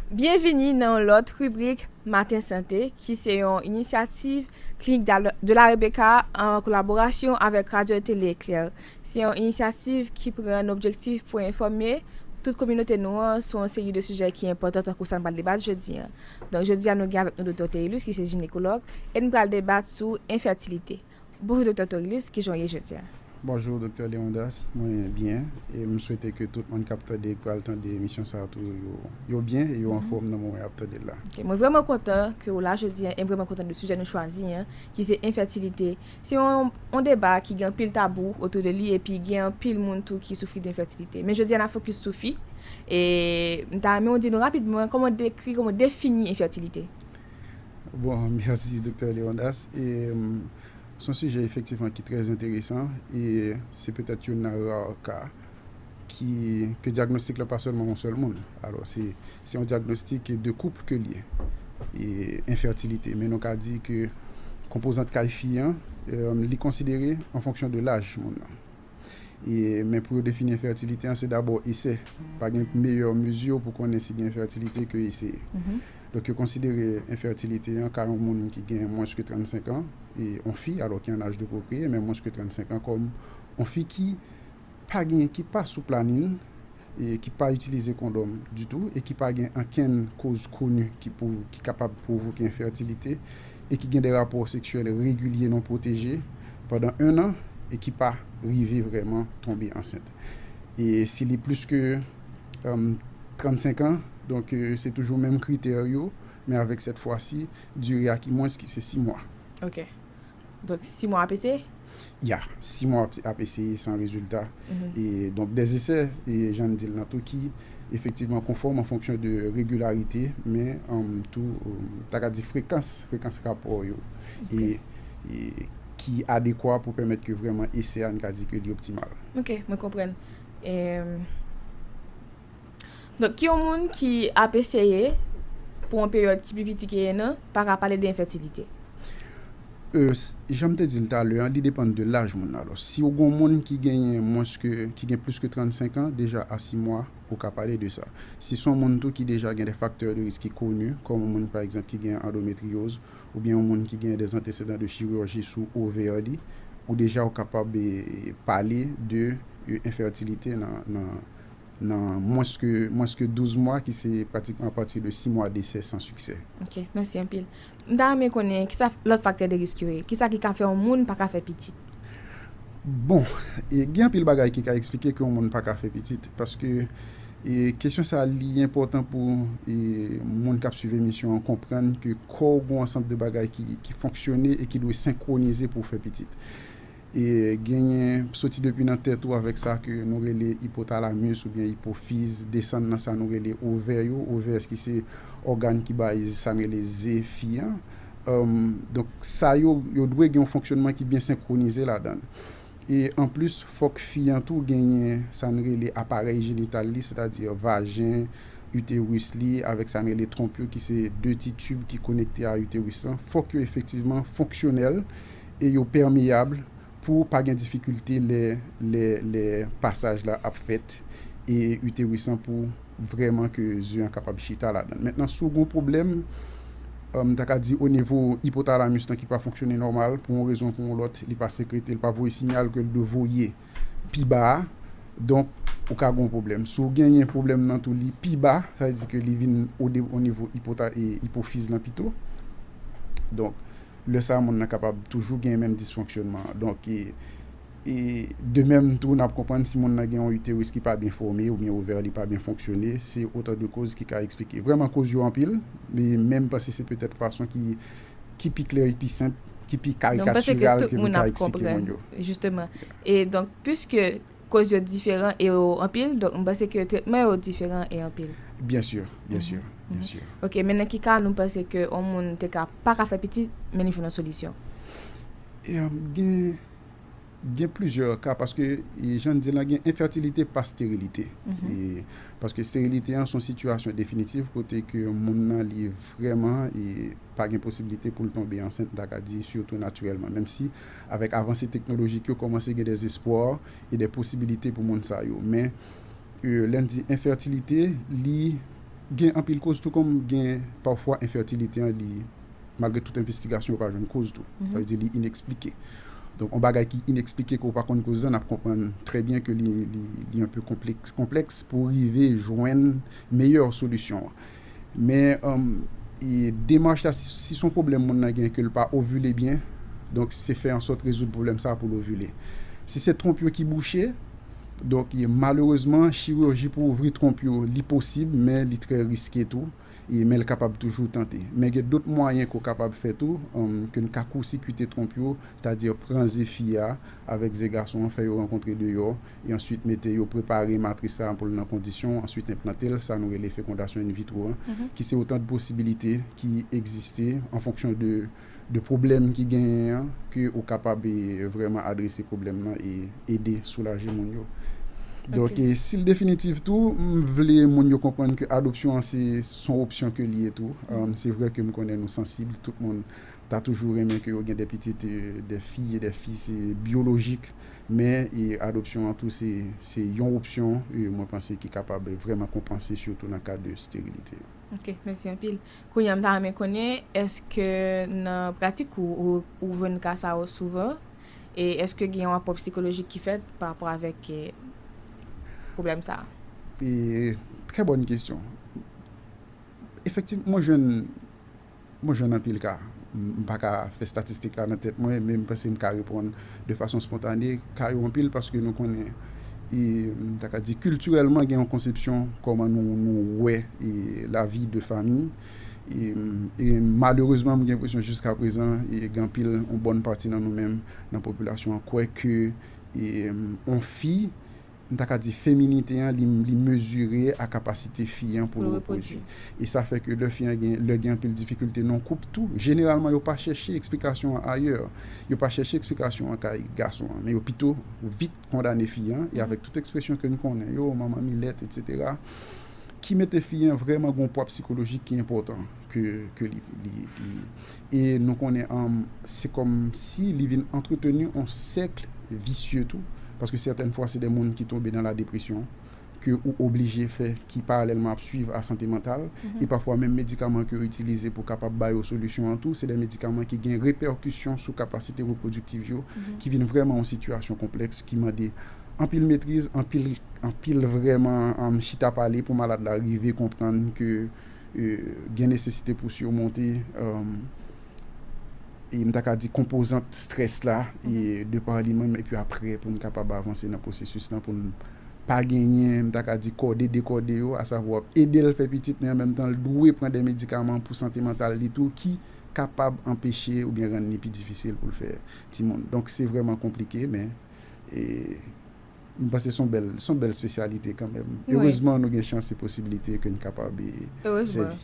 Byenvini nan yon lòt ribrik Maten Sante ki se yon inisyativ Clinique de la Rebecca an kolaborasyon avèk Radyo Tele Eklèr. Se yon inisyativ ki pran nan objektif pou enfòme tout kominote nou an sou yon seri de sijè ki enpòtan tankou sa n pral debat jodi an. Donk jodi a nou gen avèk nou Doktè Théilus ki se jinekològ e n pral debat sou enfètilite. Bonjou Doktè Torilus, kijan w ye jodia? Bonjou Doktè Leondas, mwen byen e m swete ke tout moun kap tande e k pral tande emisyon sa tou yo byen e yo anfom nan moman yap tande l la. Ok, mwen vrèman kontan ke w la jodi an e m vrèman kontan de sijè nou chwazi an ki se enfètilite. Se yon deba ki gen anpil tabou otou de li epi gen anpil moun tou ki soufri de enfètilite. Men jodi an n ap fokis sou fi e m ta renmen w di nou rapidman kòman w dekri, kòman w defini enfètilite. Bon, mèsi Doktè Leondas. E se yon sijè efektivman ki trè enteresan e se petèt youn nan ra ka ki ke dyagnostik la pa sèlman yon sèl moun. Alò se yon dyagnostik de koup ke l ye e enfètilite. Men nou ka di ke konpozant kay fi an li konsidere an fonksyon de laj moun nan. Men pou yo defini enfètilite an se dabò esè. Pa gen meyè mezi pou konnen si gen enfètilite ke eseye. Donk yo konsidere enfètilite an ka yon moun ki gen mwens ke 35 an, yon fi alò ki an aj de pwokreye men mwens ke 35 an kòm yon fi ki pa gen, ki pa sou planin. ki pa itilize kondòm ditou e ki pa gen ankenn koz koni ki kapab pwovoke enfètilite e ki gen de rapò seksyèl regilye non pwoteje pandan ennan e ki pa rive vrèman tonbe ansent e si li plis ke 35 an, donk se toujou menm kritè yo men avèk sèt fwasi dire a ki mwens ki se 6 mwa. Ok. Donk si mwa ap eseye? Ya, si mwa ap eseye san rezilta. E donk dè esè, e jan n di l lan tou ki efektivman konfòm an fonksyon de regilarite men tou ta ka di frekans, frekans rapò yo e ki adekwa pou pèmèt ke vrèman esè a n ka di ke li optimal. Ok, mwen konprann. Donk yon moun ki ap eseye pou yon peryòd ki pi piti ke 1 an pa ka pale de enfètilite. E, jan m te di l talè an, li depann de laj moun nan. Alò, si w gen yon moun ki genyen mwens ke, ki gen plis ke 35 an, deja a 6 mwa, ou ka pale de sa. Si se yon moun tou ki deja gen dè faktè de risk ki koni, kòm yon moun pa egzanp ki gen andometriyoz, oubyen yon moun ki gen dè antesedan de chirurji sou ovè li, ou deja ou kapab pale de enfètilite nan nan mwens ke mwens ke 12 mwa ki se pratikman a pati de 6 mwa desè san siksè. Ok, mèsi anpil. M ta renmen konnen ki sa lòt faktè de risk yo ye? Ki sa ki ka fè yon moun pa ka fè pitit? Bon, gen anpil bagay ki ka eksplike ke yon moun pa ka fè pitit. Paske kesyon sa li enpòtan pou moun k ap swiv emisyon an konprann ke kò ou gen yon ansanm de bagay ki fonksyone e ki dwe senkwonize pou ou fè pitit. Genyen, soti depi nan tèt ou avèk sa ke nou rele ipotalamus oubyen ipofiz, desann nan sa nou rele ovè yo, ovaires ki se ògàn ki bay sa n rele ze fi an. Donk sa yo, yo dwe gen yon fonksyònman ki byen senkwonize ladan l. E anplis, fòk fi an tou genyen sa n rele aparèy jenital li, sètadi vajen, uterus li avèk sa n rele twonp yo ki se de ti tib ki konekte a uterus lan, fòk yo efektivman fonksyonèl e yo pèmeyab pou pa gen difikilte lè pasaj la ap fèt e uterus lan pou vrèman ke ze an kapab chita ladann. Mentnan si w gen yon pwoblèm, m ta ka di onivo ipotalamus lan ki pa fonksyone nòmal pou yon rezon ou pou yon lòt, li pa sekrete, li pa voye sinyal ke l dwe voye pi ba a, donk ou ka gen yon pwoblèm. Si w genyen pwoblèm nan tou li pi ba, sa vle di ke li vin onivo ipofiz lan pito. lè sa moun nan kapab toujou gen menm disfonksyonman an. Donk, e de menm tou n ap konprann si moun nan gen yon uterus ki pa byen fòme oubyen ovè li pa byen fonksyone, se otan de koz ki ka eksplike. Vrèman koz yo anpil, men m panse se petèt fason ki ki pi klè e ki pi senp, ki pi karikatiral ke m ta eksplike moun yo. Donk, m panse ke tout moun ap konprann, jisteman. E donk, piske Koz yo diferan e yo anpil, donk m panse ke tretman yo diferan e anpil. Byen sur, byen sur, byen sur. Ok, men nan ki ka nou panse ke on moun te ka pa ka fè pitit, men li jwenn on solisyon? Gen, gen plizyè ka paske jan n di lan gen enfètilite pa sterilite. Paske sterilite an son sitiyasyon definitif kote ke moun nan li vrèman pa gen posibilite pou l tonbe ansent, m ta ka di sitou natirèlman, menm si. Avèk avanse teknolojik yo kòmanse gen des espoirs e des posibilités pou moun sa yo. Men lè n di enfètilite li gen anpil koz tou kòm gen pafwa enfètilite an li malgre tout envestigasyon yo pa jwenn koz tou. Sa vle di li inexplike. Donk on bagay ki inexplike ke w pa konn koz lan n ap konprann trè byen ke li un peu konplèks pou rive jwenn meyè solisyon an. Men demach la si son pwoblèm moun nan gen ke l pa ovile byen, donk se fè ansòt rezoud pwoblèm sa pou l ovile. Si se twonp yo ki bouche, donk malerezman chirurji pou ouvri twonp yo li posib men li trè riske tou, men l kapab toujou tante. Men gen dot mwayen ke w kapab fè tou, ke n ka koursikite twonp yo, sètadi pran ze fi a avèk ze gason an fè yo rankontre deyò, e answit mete yo prepare matris sa pou l nan kondisyon, answit enplante l, sa nou rele fekondasyon in vitro an, ki se otan de posibilite ki egziste an fonksyon de de pwoblèm ki genyen an, ke ou kapab vrèman adrese pwoblèm nan e ede soulaje moun yo. Donk si l definitif tou, m vle moun yo konprann ke adopsyon an se son opsyon ke l ye tou, se vre ke m konnen nou sansib, tout moun. ta toujou renmen ke yo gen 2 pitit 2 fi e 2 fis byolojik men adopsyon an tou se yon opsyon mwen panse ki kapab vrèman konpanse sitou nan ka de sterilite yo. Ok, mèsi anpil. Kounye a m ta renmen konnen eske nan pratik ou ou jwenn ka sa yo souvan e eske gen yon rapò psikolojik ki fèt pa rapò avèk pwoblèm sa a? Trè bòn kesyon. Efektiv mwen jwenn Mwen jwenn anpil ka. M pa ka fè statistik la nan tèt mwen, men m panse m ka reponn de fason spontane. Ka yo anpil paske nou konnen, m ta ka di kiltirèlman gen yon konsepsyon kòman nou wè lavi de fanmi. E malerezman m gen enpresyon jiska prezan gen anpil, yon bòn pati nan nou menm nan popilasyon an kwè ke yon fi, m ta ka di feminite an li mezire a kapasite fi an pou l repwodui. E sa fè ke lè fi an gen, lè gen anpil difikilte nan koup tou, jeneralman yo pa chèche eksplikasyon an ayè. Yo pa chèche eksplikasyon an kay gason an, men yo pito vit kondane fi an, e avèk tout ekspresyon ke n konnen yo, manman milèt, etsetera, ki mete fi an vrèman gen yon pwa psikolojik ki enpòtan ke li. E nou konnen se kòm si li vin antreteni yon sèkl visye tou, paske sètèn fwa se de moun ki tonbe nan la depresyon ke ou oblije fè ki paralèlman ap swiv a sante mantal, e pafwa menm medikaman ke yo itilize pou kapab ba yo solisyon an tou se de medikaman ki gen repèkisyon sou kapasite repwodiktiv yo ki vin vrèman yon sitiyasyon konplèks ki mande anpil metriz, anpil vrèman chita pale pou malad la rive konprann ke. gen nesesite pou simonte m ta ka di konpozant strès la de pa li menm epi aprè pou n kapab avanse nan pwosesis lan pou n pa genyen m ta ka di kòde dekòde yo asavwa ede l fè pitit men an menm tan l dwe pran de medikaman pou sante mantal li tou ki kapab anpeche oubyen rann li pi difisil pou l fè timoun donk se vrèman konplike men e. M panse son bèl, son bèl spesyalite kanmèm. Erezman nou gen chans se posibilite ke n kapab sèvi.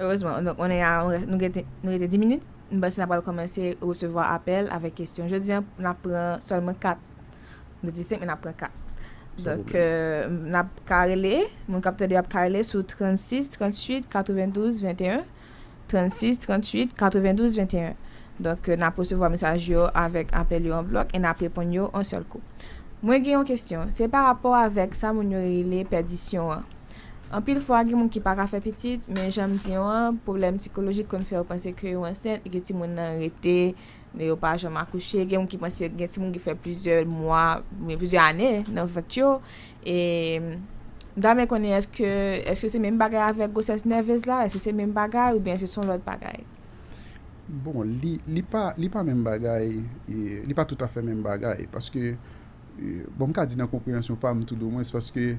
Erezman. Donk on est a, nou gen, nou rete 10 minit. M panse n ap pral kòmanse resevwa apèl avèk kesyon. Jodi an n ap pran sèlman 4. Nou te di 5 men n ap pran 4. Donk n ap ka rele, moun k ap tande yo ap ka rele sou 36 38 92 21. 36 38 92 21 Donk n ap resevwa mesaj yo avèk apèl yo an blòk e n ap reponn yo an sèl kou. Mwen gen yon kesyon, se pa rapò avèk sa moun yo rele pèdisyon an. Anpil fwa gen moun ki pa ka fè pitit, men jan m di w an, pwoblèm sikolojik konn fè yo panse ke yo ansent e ke timoun nan rete, yo pa janm akouche, gen moun ki panse gen timoun ki fè plizyè mwa, oubyen plizyè ane nan vant yo. E m ta renmen konnen eske eske se menm bagay avèk gwosès nèvez la? Eske se menm bagay oubyen eske se yon lòt bagay? Bon, li li pa li pa menm bagay, li pa toutafè menm bagay paske bon m ka di nan konpreyansyon pa m toudomwens paske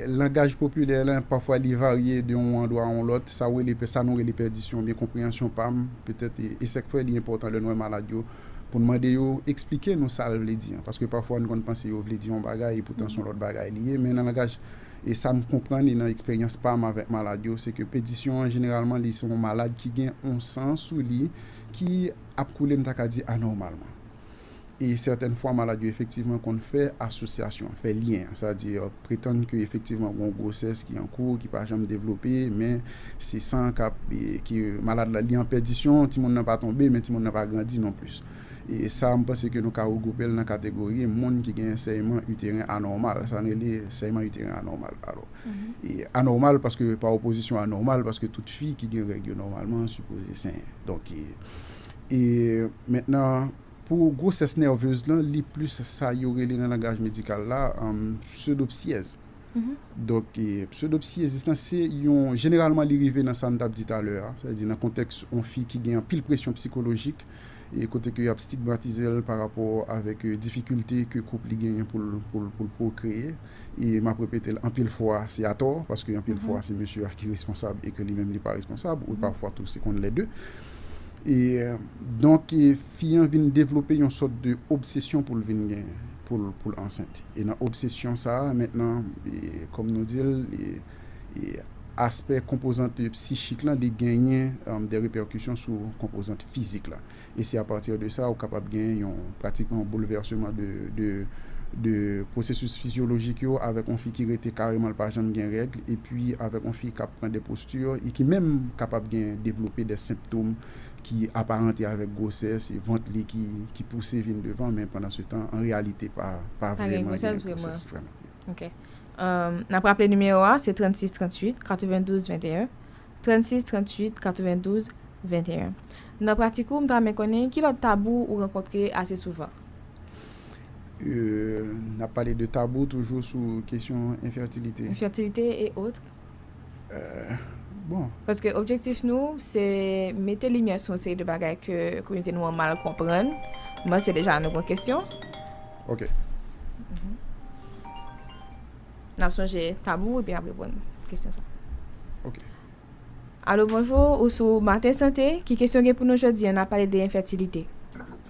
langaj popilè la pafwa li varye de yon andwa a yon lòt sa w rele sa nou rele pèdisyon oubyen konpreyansyon pa m petèt e sèk fè li enpòtan lè nou wè malad yo pou n mande yo esplike nou sa l vle di an. Paske pafwa n konn panse yo vle di yon bagay epoutan s on lòt bagay li ye. Men nan langaj e sa m konprann e nan eksperyans pa m avèk malad yo, se ke pedisyon an jeneralman li se yon malad ki gen yon san sou li ki ap koule m ta ka di anòmalman. E sètèn fwa malad yo efektivman konn fè asosyasyon, fè lyen an. Sa vle di Pretann ke efektivman gon gwosès ki an kou, ki pa janm devlope, men se san k ap, ke malad la li an pèdisyon, timoun nan pa tonbe, men timoun nan pa grandi non plis. E sa m panse ke nou ka regwoupe l nan kategori moun ki gen sèyman iteren anòmal, sa n rele sèyman iteren anòmal. Alò, anòmal paske pa opozisyon a nòmal, paske tout fi ki gen règ yo nòmalman sipoze senyen. Donk, e mentnan. Pou gwosès nèvez lan, li plis sa yo rele nan langaj medikal la psewdopsyèz. Donk, psewdopsyezis lan se yon, jeneralman li rive nan sa n t ap di talè a, sètadi nan kontèks yon fi ki gen anpil presyon psikolojik, kote ke y ap stigmatize l parapò avèk difikilte ke koup li genyen pou l pwokreye. e m ap repete l anpil fwa se atò, paske anpil fwa se mesye a ki responsab e ke li menm li pa responsab, ou pafwa tou se konn lè de. E donk fi an vin devlope yon sòt de obsesyon pou l vin gen, pou l ansent. E nan obsesyon sa a mentnan, kòm nou di l, aspè konpozant psichik lan li genyen de repèkisyon sou konpozant fizik la. e se a pati de sa ou kapab gen yon pratikman yon boulvèseman de pwosesis fizyolojik yo avèk yon fi ki rete kareman li pa janm gen règ epi avèk yon fi kap pran de posti e ki menm kapab gen devlope de senptom ki aparante avèk gwosès e vant li ki pouse vin devan men pandan se tan an reyalite pa vreman gen gwosès vreman. Nap raple nimewo a se 36 38 92 21 36 38 92 21 Nan pratik ou, m ta renmen konnen ki lòt tabou ou rankontre ase souvan? N ap pale de tabou toujou sou kesyon enfètilite. Enfètilite e otre. Bon. Paske objektif nou se mete limyè sou yon seri de bagay ke kominote nou an mal konprann. M panse deja nou gen yon kesyon. Ok. N ap sonje tabou epi n ap reponn kesyon sa. Ok. Alo bonjou, ou sou Maten Sante, ki kesyon gen pou nou jodi an? N ap pale de enfètilite.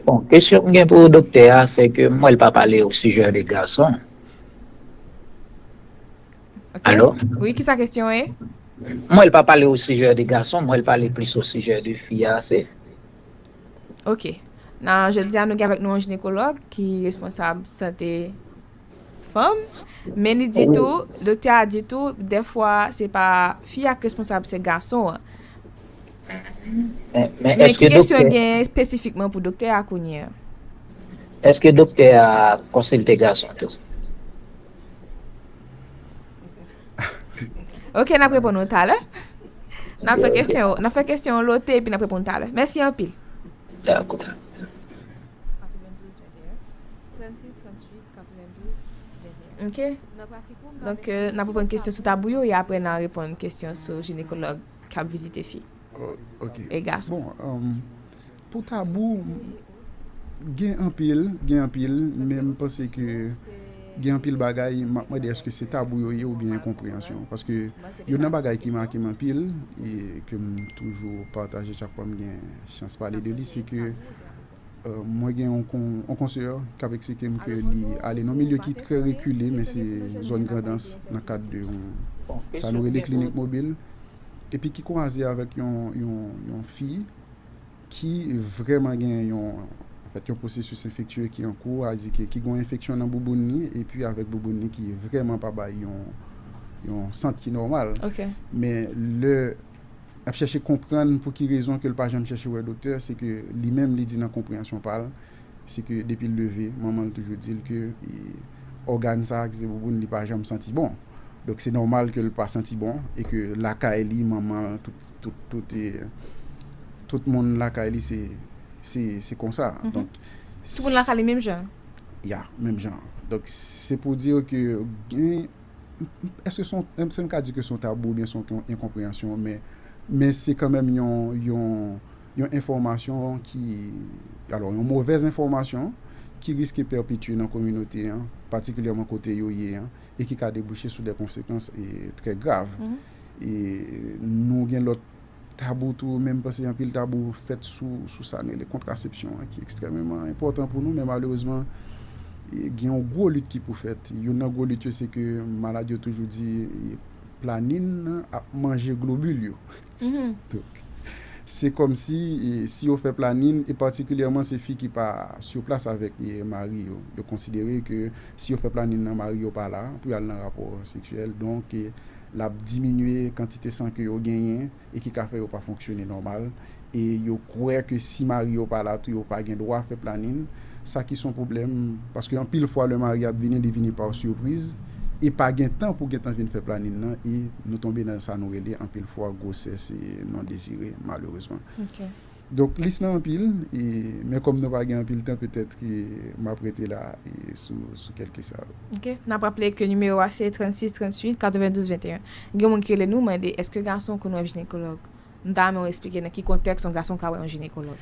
Bon, kesyon m gen pou doktè a, se ke m wè l pa pale o sijè de gason. Ok. Alo? Wi, ki sa kesyon an ye? M wè l pa pale o sijè de gason, m wè l pale plis o sijè de fi a ase. Ok. Nan jodi a nou gen avèk nou yon jinekològ ki responsab sante. Fanm, men li di tou, doktè a di tou, dèfwa se pa fi a k responsab se gason an. Men ki kesyon gen espesifikman pou doktè a kounye a? Eske doktè a konsilte gason tou? Ok nap reponn ou talè. Nap fè kesyon yo, nap fè kesyon yo lote epi nap reponn talè. Mèsi anpil. Dakò. Ok, donk euh, nan reponn kesyon sou tabou yo, e apre nan reponn kesyon sou jinekològ k ap vizite fi e gason. Bon, um, pou tabou, gen anpil, gen anpil, men m panse ke gen anpil bagay, m ap mande eske se tabou yo ye ou byen enkonpreyansyon. Paske youn nan bagay ki make m anpil, e ke m toujou pataje chak fwa m gen chans pale de li, se ke Mwen gen yon konseyè k ap eksplike m ke li ale nan yon milye ki trè rekile, men se zòn Grandans nan kad de yon sa nou rele klinik mobil, epi ki kwaze avèk yon fi ki vrèman gen yon pwosesis enfektye ki an kou, a di ke ki gen yon enfeksyon nan bouboun li, epi avèk bouboun li ki vrèman pa bay yon sant ki nòmal. Men lè. L ap chèche konprann pou ki rezon ke l pa janm chèche wè doktè, se ke li menm li di nan konpreyansyon pa l, se ke depi l leve, manman l toujou di l ke ògàn sa a ki se bouboun li pa janm santi bon. Donk se nòmal ke l pa santi bon e ke lakay li, manman l, tout moun lakay li se konsa. Donk. Tout moun lakay li menm jan? Ya, menm jan. Donk se pou di w ke gen. èske m ka di ke se yon tabou oubyen se yon enkonpreyansyon, men se kanmenm yon enfòmasyon ki, alò yon movèz enfòmasyon ki riske pèpetye nan kominote an, patikilyèman kote yo ye an, e ki ka debouche sou de konsekans trè grav. E nou gen lòt Tabou tou, menm panse anpil tabou fèt sou sa nou rele kontrasepsyon an ki ekstrèmeman enpòtan pou nou men malerezman gen yon gwo lit ki pou fèt. Youn nan gwo lit yo se ke malad yo toujou di planin nan ap manje globil yo. Donk se kòmsi si yo fè planin e patikilyèman se fi ki pa sou plas avèk mari yo, yo konsidere ke si yo fè planin nan mari yo pa la pou y al nan rapò seksyèl donk L ap diminye kantite san ke yo genyen e ki ka fè yo pa fonksyone nòmal. E yo kwè ke si mari yo pa la tou yo pa gen dwa fè planin. Sa ki son pwoblèm paske anpil fwa lè mari ap vini li vini pa sipriz e pa gen tan pou gentan vin fè planin nan e nou tonbe nan sa nou rele anpil fwa gwosès non dezire malerezman. Donk lis lan anpil, men kòm nou pa gen anpil tan petèt ke m ap rete la sou kèlke sa yo. Ok. N ap raple ke nimewo a se 36 38 92 21. Gen moun ki rele nou mande èske gason konn wè jinekològ. M ta renmen ou esplike nan ki kontèks yon gason ka wè yon jinekològ.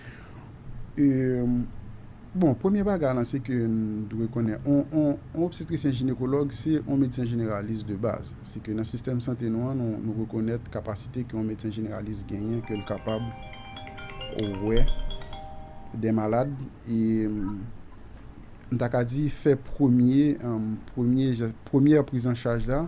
Bon, premye bagay lan se ke n dwe konnen yon obstetrisyen jinekològ se yon medsen jeneralis de baz. Se ke nan sistèm sante nou an nou rekonèt kapasite ke yon medsen jeneralis genyen ke l kapab wè de malad e m ta ka di fè premye premyè prizanchaj la.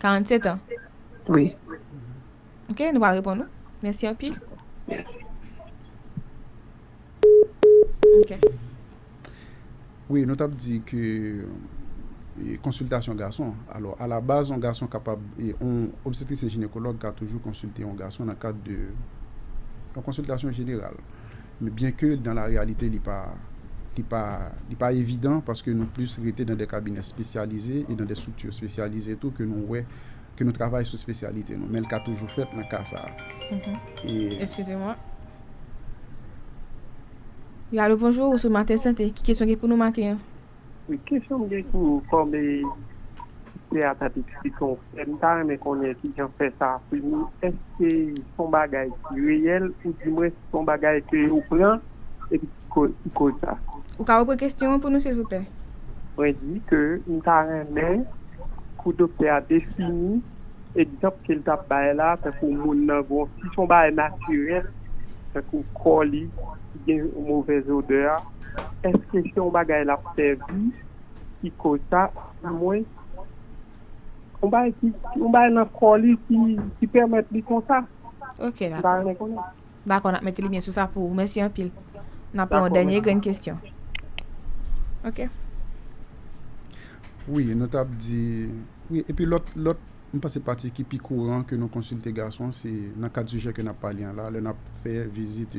47 ans? Wi. Ok, nou pral reponn ou. Mèsi anpil. Mèsi. Ok. Wi, nou t ap di ke konsiltasyon gason, alò a la baz yon gason kapab, yon obstetrisyen jinekològ ka toujou konsilte yon gason nan kad de yon konsiltasyon jeneral. byen ke dan la reyalite li pa li pa li pa evidan paske nou plis rete dan de kabinè spesyalize e dan de strikti spesyalize tou ke nou wè ke nou travay sou spesyalite nou men li ka toujou fèt nan ka sa a. Alo bonjou ou sou maten sante ki kesyon gen pou nou maten an. Kesyon m gen pou ou kòm kite a tap eksplike yon frè m ta renmen konnen kijan fè sa ap fini èske son bagay ki reyèl ou di mwen si son bagay ke yo pran epi ki koz sa. Ou ka repran kesyon an pou nou silvouplè. Mwen di ke m ta renmen pou doktè a defini egzanp ke l tap bay la tankou moun nan gon si son bagay natirèl tankou kò li ki gen movèz odè a. Eske se yon bagay lap sèvi ki koz sa du mwen yon bagay ki yon bagay nan kò li ki pèmèt li konsa Ok dakò. M ta renmen konnen. Dakò nap mete limyè sou sa pou ou. Mèsi anpil. Nap pran yon dènye grenn kesyon. Ok. Wi nou tap di wi epi lòt lòt m panse pati ki pi kouran ke nou konsilte gason se nan kad sijè ke nap pale an la lè nap fè vizit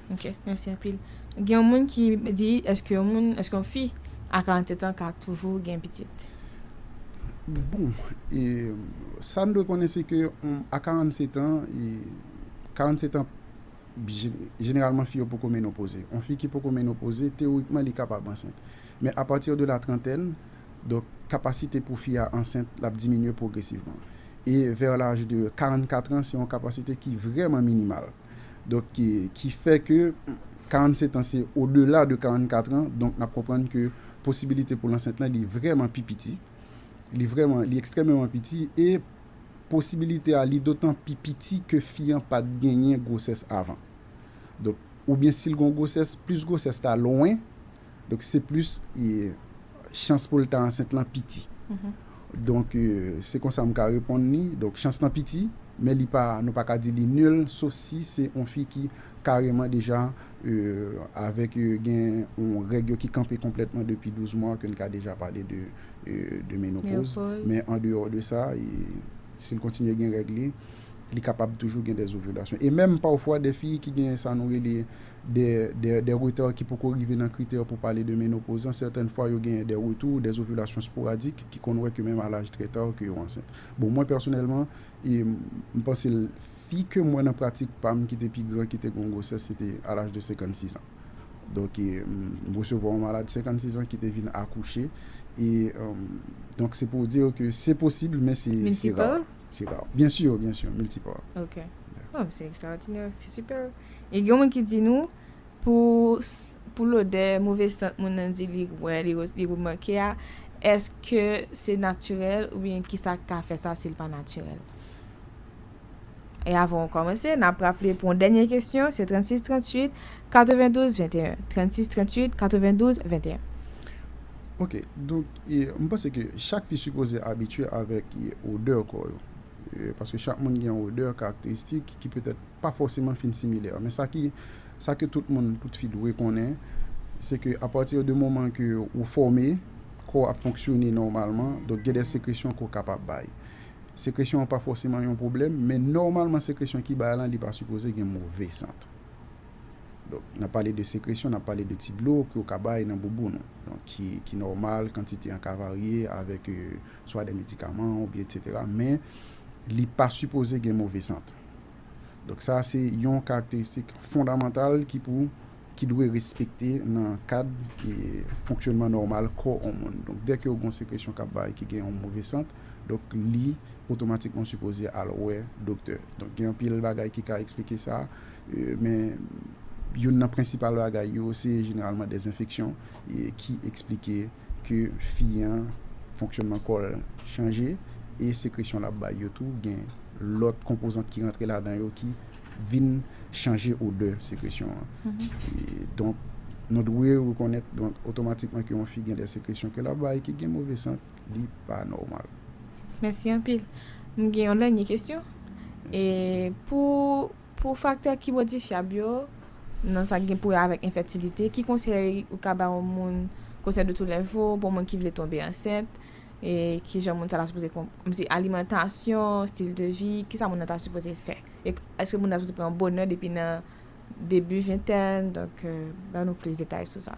Ok mèsi anpil. Gen yon moun ki di eske yon moun eske yon fi a 47 ans ka toujou gen pitit. Bon e sa n dwe konnen se ke a 47 ans e 47 ans jeneralman fi yo poko menopoze yon fi ki poko menopoze teyorikman li kapab ansent men a pati de la trantèn donk kapasite pou fi a ansent l ap diminye pwogresivman e vè laj de 44 ans se yon kapasite ki vrèman minimal. Donk ki fè ke 47 an se o dela de 44 an, donk nap konprann ke posibilite pou l ansent lan li vrèman pi piti, li vrèman, li ekstrèmeman piti e posibilite a li dotan pi piti ke fi an pat genyen gwosès avan. Donk oubyen si l gen yon gwosès, plis gwosès la lwen. Donk se plis chans pou l ta ansent lan piti. Donk se konsa m ka reponn li. Donk chans lan piti, men li pa, nou pa ka di li nil, sof si se yon fi ki kareman deja avèk gen yon règ yo ki kanpe konplètman depi 12 mwa ke n ka deja pale de menopoz. Men an deyò de sa, si l kontinye gen règ li, li kapab toujou gen dè zovilasyon. E menm pafwa dè fi ki gen sa nou rele Des retards ki poko rive nan kritè pou pale de menopozan, certaines fois yo genyen des retours, des ovulations sporadiques ki konn wè ke menm a l'âge très tard ke yo ansent. Bon mwen pèsonèlman, m panse fi ke m wè nan pratik pa m ki te pi gran ki te gen yon gwosès se te a l'âge de 56 ans. Donk m resevwa yon malad 56 ans ki te vin akouche e donk se pou w di w ke se posib men se rare. Multiple? Se rare. Bien sûr, bien sûr, multiple. Ok. Bon, se extraordinaire, se super. E gen moun ki di nou, pou pou lodè move sant moun nan di li wè, li remake a, èske se natirèl oubyen kisa k ka fè sa si l pa natirèl? E avan ou kòmanse, n ap raple pou yon dènye kesyon, se 36 38 92 21. 36 38 92 21. Ok, donk e m panse ke chak fi sipoze abitye avèk odè kò yo. Paske chak moun gen yon odè karakteristik ki petèt pa fòseman fin similè. Men sa ki, sa ke tout moun, tout fi dwe konnen, se ke a pati de moman ke ou fòme, kò ap fonksyone nòmalman, donk gen de sekresyon ke ou kapab bay. Sekresyon an pa fòseman yon pwoblèm, men nòmalman sekresyon ki bay lan li pa sipoze gen move sant. Donk, n ap pale de sekresyon, n ap pale de ti dlo ke ou ka bay nan bouboun ou. Donk, ki, ki nòmal, kantite an ka varye avèk swa de medikaman oubyen etc. Men, li pa sipoze gen move sant. Donk sa a se yon karakteristik fondamantal ki pou, ki dwe respekte nan kad fonksyonman nòmal kò yon moun. Donk dèke yo gen yon sekresyon k ap bay ki gen yon move sant, donk li otomatikman sipoze al wè doktè. Donk gen anpil bagay ki ka eksplike sa, men youn nan prensipal bagay yo se jeneralman dèzenfeksyon ki eksplike. ke fi an fonksyonman kò l chanje e sekresyon l ap bay yo tou gen lòt konpozant ki rantre ladan yo ki vin chanje odè sekresyon an. Donk nou dwe rekonèt donk otomatikman ke yon fi gen de sekresyon ke l ap bay ki gen move sant, li pa nòmal. Mèsi anpil. M gen yon dènye kesyon. E pou. Pou faktè ki modifyab yo, nan sa k gen pou wè avèk enfètilite, ki konsèy ou ka bay yon moun, konsèy de tou lè jou, pou yon moun ki vle tonbe ansent, e ki jan moun sa ta sipoze kon, kòmsi alimantasyon, stil de vi, ki sa moun nan ta sipoze fè? E èske moun nan ta sipoze pran bonè depi nan debi ventèn, donk ban nou plis detay sou sa.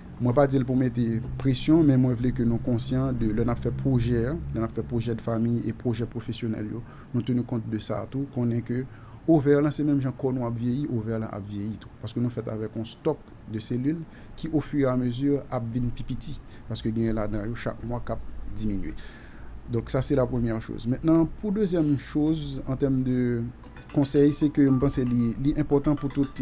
Mwen pa di l pou mete presyon, men mwen vle ke nou konsyan de lè n ap fè pwojè, lè n ap fè pwojè de fami e pwojè pwofesyonèl yo, nou tenu kont de sa tou, konnen ke ovè lan se menm jan kò nou ap vyeyi, ovè lan ap vyeyi tou. Paske nou fèt avèk yon stock de selil ki o fur et à mesure ap vin pi piti, paske genyen ladan yo chak mwa k ap diminye. Donk sa se la premyè choz. Mentnan pou dezyèm choz an tèm de konsèy se ke m panse li enpòtan pou tout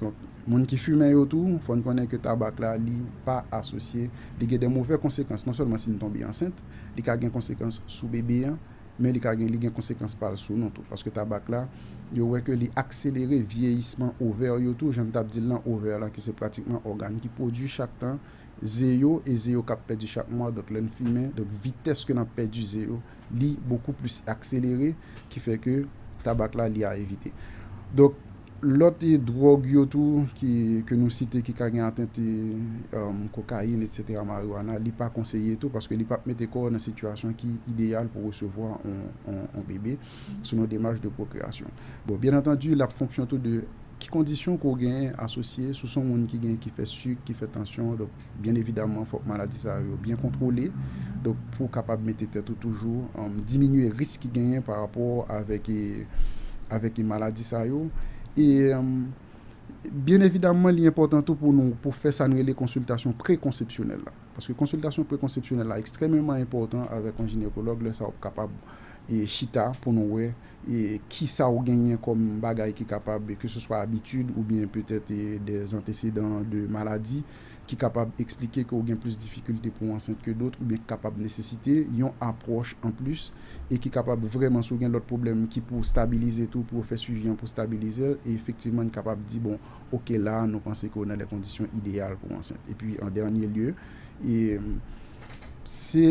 Donk, moun ki fimen yo tou, fò n konnen ke tabak la li pa asosye, li gen de movè konsekans, non sèlman si n tonbe ansent, li ka gen konsekans sou bebe an, men li ka gen, li gen konsekans pa l sou nou tou. Paske tabak la, yo wè ke li akselere vyeyisman ovè yo tou, jan m t ap di l lan, ovè lan ki se pratikman ògàn ki pwodui chak tan ze yo, e ze yo k ap pèdi chak mwa, donk lè n fimen, donk vitès ke n ap pèdi ze yo, li bokou plis akselere, ki fè ke tabak la li a evite. Donk. Lòt dwòg yo tou ke nou site ki ka gen atent kokayin etsetera mariwana li pa konseye tou paske li pap mete kò nan sitiyasyon ki ideyal pou resevwa yon bebe sou yon demach de pwokreyasyon. Bon byen antandi lap fonksyon tou de ki kondisyon ke w genyen asosye sou son moun ki gen ki fè sik ki fè tansyon. Byen evidaman fòk maladi sa yo byen kontwole donk pou kapab mete tèt ou toujou diminye risk ki genyen pa rapò avèk e maladi sa yo e byen evidaman li enpòtan tou pou nou pou fè sa nou rele konsiltasyon prekonsepsyonèl la paske konsiltasyon prekonsepsyonèl la ekstrememan enpòtan avèk yon jinekològ lè sa wap kapab chita pou nou wè. e kisa ou genyen kòm bagay ki kapab ke se swa abitid oubyen petèt dè antesedan de maladi ki kapab eksplike ke ou gen plis difikilte pou ansent ke dot oubyen ki kapab nesesite yon apwòch anplis e ki kapab vrèman si ou gen lòt pwoblèm ki pou stabilize tou pou yo fè swivi an pou stabilizel e efektivman n kapab di bon ok la a nou panse ke ou nan lè kondisyon ideyal pou ansent epi an dènye lye e se.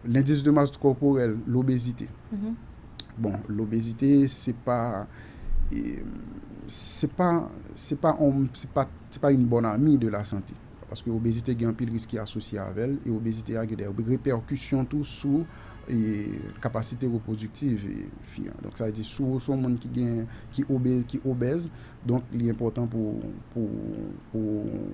Lendis de mas kòporèl, lobezite. Bon, lobezite se pa, se pa, se pa yon, se pa, se pa yon bòn ami de la sante. Paske obezite gen anpil risk ki asosye avè l, e obezite a gen dè repèkisyon tou sou kapasite repwodiktiv fi an. Donk sa vle di si w se yon moun ki gen, ki obèz, donk li enpòtan pou, pou, pou.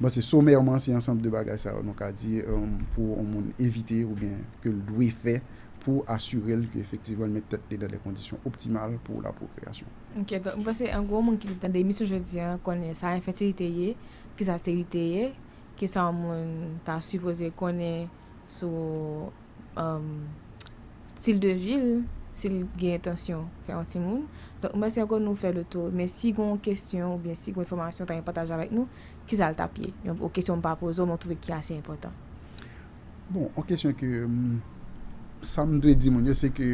M panse somèrman se ansanm de bagay sa yo nou ka di pou yon moun evite oubyen ke l dwe fè pou asire l ke efektivman l met tèt li nan de kondisyon optimal pou lapwokreyasyon. Ok, donk m panse an gwo moun ki te tande emisyon jodi an konnen sa enfètilite ye, kisa sterilite ye, kisa yon moun ta sipoze konnen. sou stil de vil sil gen entansyon fè yon timoun donk mèsi ankò nou fè le tou men si gon kesyon oubyen si gon enfòmasyon ta yon pataje avèk nou kisal tap ye yon kesyon mpa poze w men w twouve ki ase enpòtan. Bon yon kesyon ke sam dwe di moun yo se ke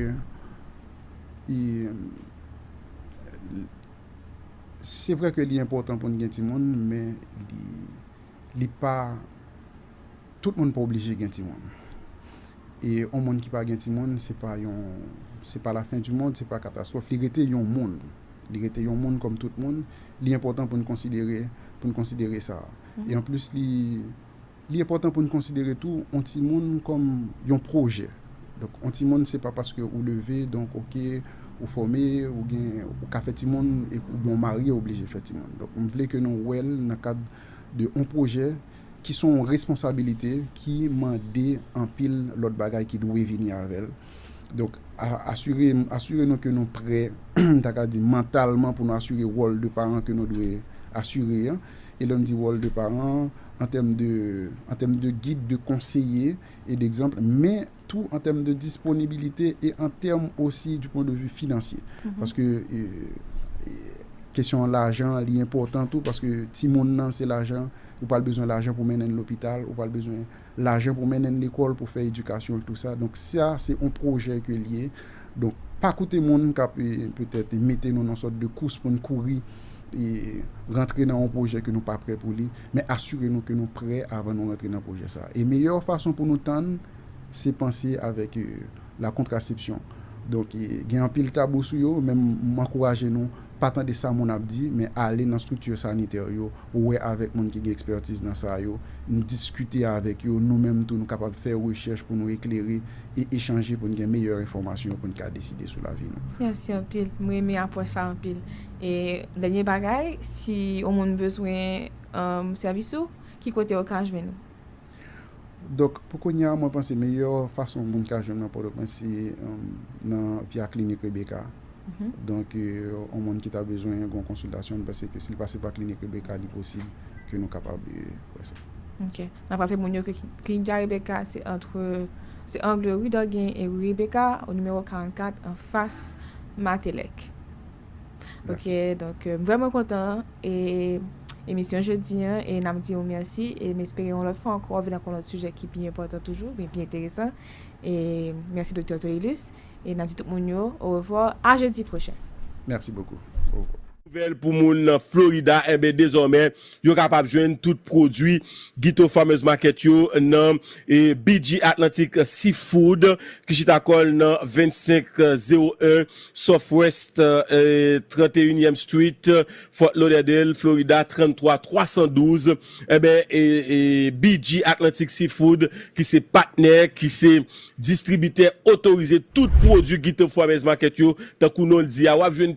se vre ke li enpòtan poun gen timoun men li pa Tout moun pa oblije gen timoun. E yon moun ki pa gen timoun, se pa yon, se pa lafen di mond, se pa katastwòf. Li rete yon moun. Li rete yon moun kòm tout moun. Li enpòtan pou n konsidere, pou n konsidere sa. E anplis li, li enpòtan pou n konsidere tou yon timoun kòm yon pwojè. Donk yon timoun se pa paske ou leve, donk oke, ou fòme, ou gen, ou ka fè timoun, oubyen ou marye oblije fè timoun. Donk m vle ke nou wè l nan kad de yon pwojè ki son w responsabilite ki mande anpil lòt bagay ki dwe vini avè l. Donk, asire, asire nou ke nou prè, m ta ka di mantalman pou nou asire wòl de paran ke nou dwe asire an. E lè m di wòl de paran, an tèm de, an tèm de gid, de konseye e degzanp, men. tou an tèm de disponibilite e an tèm osi di pwen de vi finansye. Paske kesyon lajan an li enpòtan tou paske ti moun nan se lajan, ou pral bezwen lajan pou mennen l lopital, ou pral bezwen lajan pou mennen l lekòl pou fè edikasyon l tou sa. Donk sa se on pwojè ke l ye. Donk pa koute moun k ap petèt mete nou nan sòt de kous pou n kouri rantre nan on pwojè ke nou pa prè pou li. men asire nou ke nou prè avan nou rantre nan pwojè sa. E meyè fason pou nou tann, se panse avèk la kontrasepsyon. Donk, gen anpil tabou sou yo, men m ankouraje nou, pa tande sa moun ap di, men ale nan strikti sanitè yo, wè avèk moun ki gen ekspètiz nan sa yo, n diskite avèk yo, nou menm tou nou kapab fè rechèch pou nou eklere e echanje pou n gen meyè enfòmasyon pou n ka deside sou lavi nou. Mèsi anpil. M renmen apwòch sa anpil. E dènye bagay, si yon moun bezwen sèvis ou, ki kote yo ka jwenn ou? Donk, pou kounye a, mwen panse meyè fason moun ka jwenn mwen nan Pòtoprens se nan Via Klinik Rebeka a. Donk, yon moun ki ta bezwen yon konsiltasyon, m panse ke si l pase pa Klinik Rebeka a, li posib ke nou kapab wè sa. Ok. N ap raple moun yo ke Klinik Via Rebeka a se antre, se angle Rue Dorguin e Rue Rebeka, o nimewo 44, anfas Matelec. Ok, donk m vreman kontan e emisyon jodi an e nan m di ou merci e m espere yon lot fwa anko wap vin ak yon lot sijè ki pi enpotan toujou oubyen pi enteresan e merci Doktè Torilus e nan di tout moun yo au revoir a jeudi prochen. Merci beaucoup. Nouvèl pou moun nan Florida, enben dezòmè Yo kapab jwenn tout pwodwi Guito Farmers Market yo nan BG Atlantic Seafood ki chita kò l nan 2501 Southwest 31 Street, Fort Lauderdale, Florida 33 312. Enben, BG Atlantic Seafood ki se patnè, ki se distribitè otorize tout pwodwi Guito Farmers Market yo, tankou non l di a, w ap jwenn.